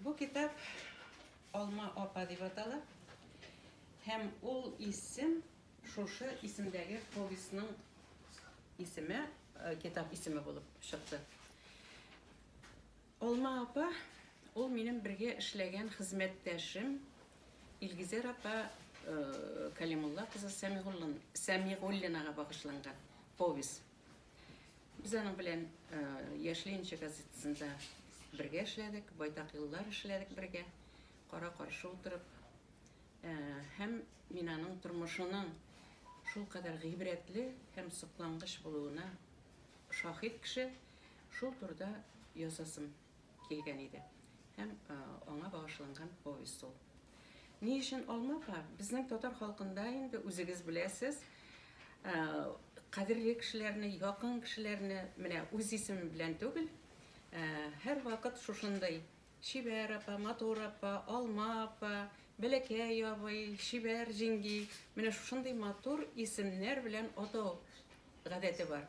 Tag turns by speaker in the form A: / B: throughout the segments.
A: Бу китап Алма апа дип атала һәм ул исем шушы исемдәге повестьның исеме, китап исеме булып чыкты. Алма апа ул минем бергә эшләгән хезмәттәшем Илгизәр апа Калимулла кызы Сәмигуллинага багышланган повесть. Без аның белән Яшь Ленинчы газетасында бергә эшләдек, байтак еллар эшләдек бергә, кара-каршы утырып. Һәм мин аның тормышының шул кадәр гыйбрәтле һәм соклангыч булуына шаһит кеше, шул турыда язасым килгән иде һәм аңа багышланган повесть ул. Ни өчен алмафа? Безнең татар халкында инде үзегез беләсез, кадерле кешеләрне, якын кешеләрне менә үз исеме белән түгел, һәр вакыт шушындый Чибәр апа, матур апа, алма апа, бәләкәй абый, чибәр җиңги, менә шушындый матур исемнәр белән атау гадәте бар.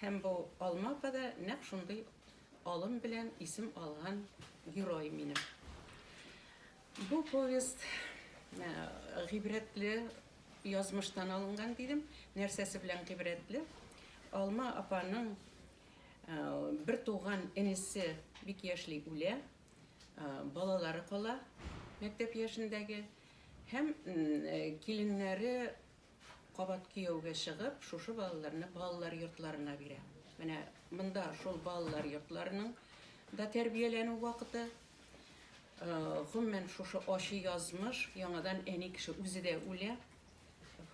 A: Һәм бу алма апа да нәкъ шундый Алым белән исем алган герой минем. Бу повесть гыйбрәтле язмыштан алынган дидем. Нәрсәсе белән гыйбрәтле? Алма апаның бер туган энесе бик яшьли үлә, балалары кала мәктәп яшендәге һәм киленнәре Кабат кияүгә чыгып, шушы балаларны балалар йортларына бирә. Менә монда шул балалар йортларының да тәрбияләнү вакыты. Э, гомумән шушы ачы язмыш, яңадан әни кеше үзе дә үлә.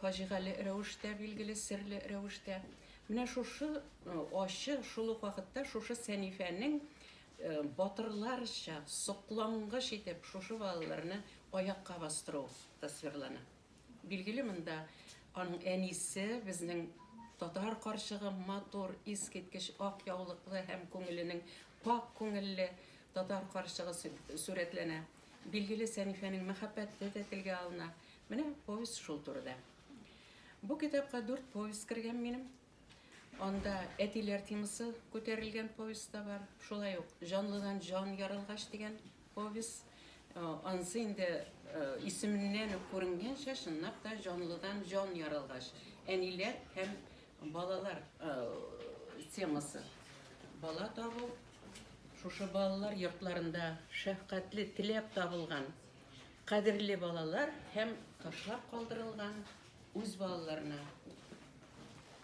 A: Фаҗигале рәвештә, билгеле серле рәвештә. Менә шушы э, ачы шул ук вакытта шушы Сәнифәнең э, батырларча соклангыч итеп шушы балаларны аякка бастыру тасвирлана. Билгеле монда аның әнисе, безнең татар карчыгы, матур, искиткеч ак яулыклы һәм күңеленең пакь күңелле татар карчыгы сурәтләнә. Билгеле Сәнифәнең мәхәббәте дә телгә алына. Менә повесть шул турыда. Бу китапка дүрт повесть кергән минем. Анда Әтиләр темасы күтәрелгән повесть та бар. Шулай ук Җанлыдан җан ярылгач дигән повесть. Э, анысы инде э, исеменнән үк күренгәнчә, чынлап та Җанлыдан җан ярылгач. Әниләр һәм балалар э, темасы. Бала табу, шушы балалар йортларында шәфкатьле теләп табылган кадерле балалар һәм ташлап калдырылган Үз балаларына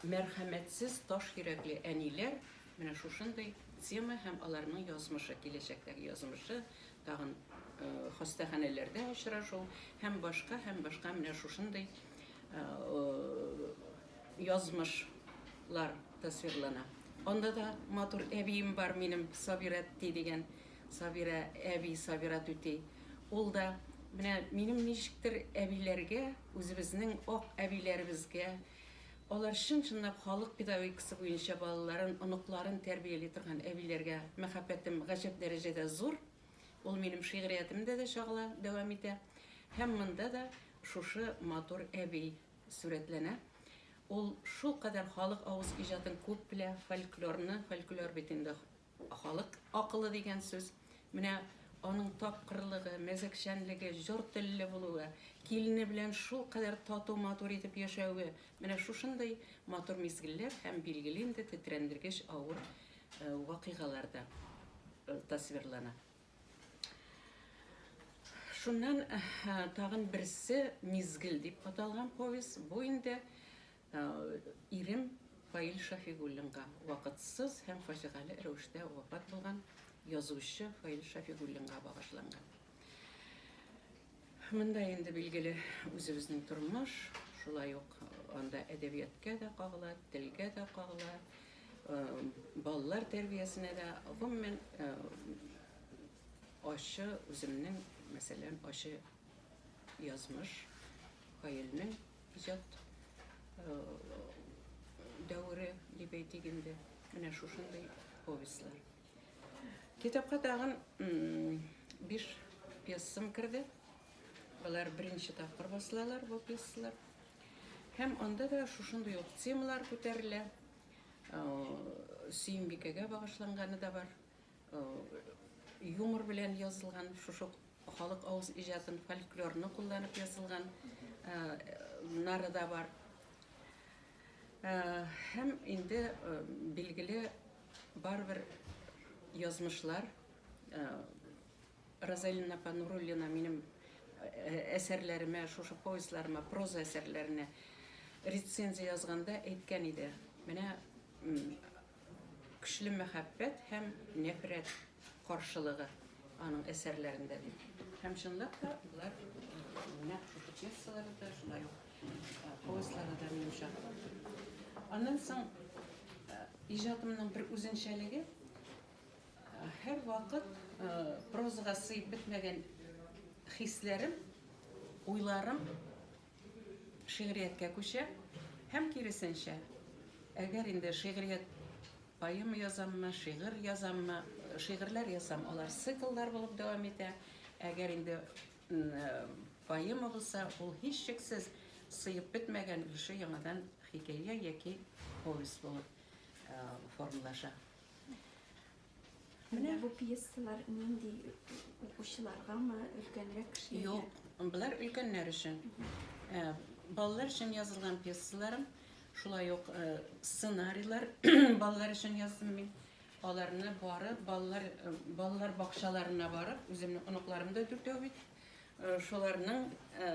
A: мәрхәмәтсез, таш йөрәкле әниләр менә шушындый тема һәм аларның язмышы, киләчәктәге язмышы, тагын хастаханәләрдә очрашу һәм башка, һәм башка менә шушындый язмышлар тасвирлана. Анда да матур әбием бар минем, Сабира түти дигән. Сабира әби, Сабира түти. Ул да менә минем ничектер әбиләргә, Үзебезнең ак әбиләребезгә, алар чын-чынлап халык педагогикасы буенча балаларын, оныкларын тәрбияли торган әбиләргә мәхәббәтем гаҗәп дәрәҗәдә зур. Ул минем шигъриятемдә дә чагыла, дәвам итә. Һәм монда да шушы матур әби сурәтләнә. Ул шулкадәр халык авыз иҗатын күп белә, фольклорны, фольклор бит инде. Халык акылы дигән сүз, менә аның тапкырлыгы, мәзәкчәнлеге, җор телле булуы, килене белән шулкадәр тату-матур итеп яшәве, менә шушындый матур мизгелләр һәм, билгеле инде, тетрәндергеч авыр вакыйгалар да тасвирлана. Шуннан тагын берсе Мизгел дип аталган повесть, бу инде Ирем Фаил Шәфигуллинга вакытсыз һәм фаҗигале рәвештә вафат булган язучы Фаил Шәфигуллинга багышланган. Монда инде билгеле үзебезнең тормыш, шулай ук анда әдәбияткә дә кагыла, телгә дә кагыла, балалар тәрбиясенә дә, гомумән, ачы үземнең, мәсәлән, ачы язмыш Фаилнең Иҗат дәвере дип әйтик инде, менә шушындый повестьлар. Китапка тагын биш пьесам керде. Алар беренче тапкыр басылалар бу пьесалар. Һәм анда да шушындый ук темалар күтәрелә. Э, Сөембикәгә багышланганы да бар. Юмор белән язылган, шушы халык авыз иҗатын, фольклорны кулланып язылган нары да бар. Һәм инде билгеле барыбер язмышлар Розалина апа Нуруллина минем әсәрләремә, шушы повестьларыма, проза әсәрләренә рецензия язганда әйткән иде. Менә Көчле мәхәббәт һәм нәфрәт каршылыгы аның әсәрләрендә ди. Һәм чынлап та болар нәкъ шушы пьесалары да, шулай ук повестьлары да минем чагылды. Аннан соң иҗатымның бер үзенчәлеге, һәрвакыт прозага сыеп бетмәгән хисләрем, уйларым шигърияткә күчә һәм киресенчә. Әгәр инде шигърият поэма язаммы, шигырь язаммы, шигырьләр ясам, алар цикллар булып дәвам итә. Әгәр инде поэма булса, ул һичшиксез сыеп бетмәгән өлеше яңадан хикәя яки повесть булып формалаша.
B: Менә бу пьесалар нинди укучыларгамы, өлкәнрәк кешеләргә? Юк, болар
A: өлкәннәр өчен. Ә, Балалар өчен язылган пьесаларым, шулай ук э, сценарийлар балалар өчен яздым мин. Аларны барып, балалар, э, балалар бакчаларына барып, үземнең оныкларым да дүртәү бит. Э, Шуларның э,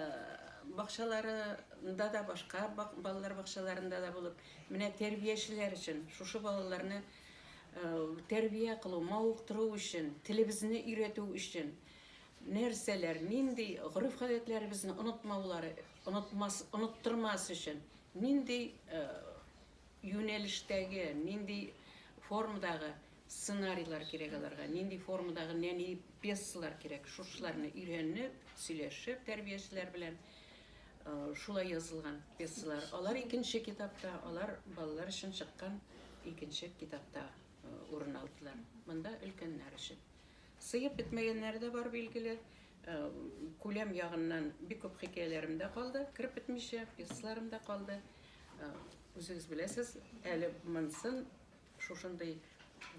A: бакчаларында да, башка бак- балалар бакчаларында да булып, менә тәрбиячеләр өчен шушы балаларны Тәрбия кылу, мавыктыру өчен, телебезне өйрәтү өчен нәрсәләр, нинди гореф-гадәтләребезне онытмаулары, онытмас, оныттырмас өчен нинди юнәлештәге, нинди формадагы сценарийлар кирәк аларга, нинди формадагы нәни пьесалар кирәк, шушыларны өйрәнеп, сөйләшеп тәрбиячеләр белән Шулай язылган пьесалар. Алар икенче китапта, алар балалар өчен чыккан икенче китапта урын алдылар. Монда өлкәннәр өчен. Сыеп бетмәгәннәре дә бар, билгеле. Күләм ягыннан бик күп хикәяләрем дә калды, кереп бетмичә, пьесаларым да калды. Үзегез беләсез, әле монсын шушындый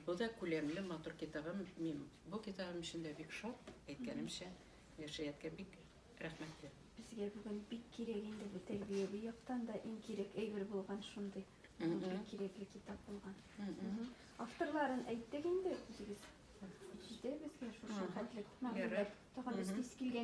A: бу да күләмле матур китабым. Мин бу китабым өчен дә бик шат, әйткәнемчә. Нуршиятка бик рәхмәтле. Безгә бүген
B: бик кирәк инде бу тәрбияви яктан да иң кирәк әйбер булган шундый. Бик кирәкле китап булган. Авторларын әйттек инде үзегез. Җитә безгә шушы хәтле мәгълүмат. Тагын эскиз килгән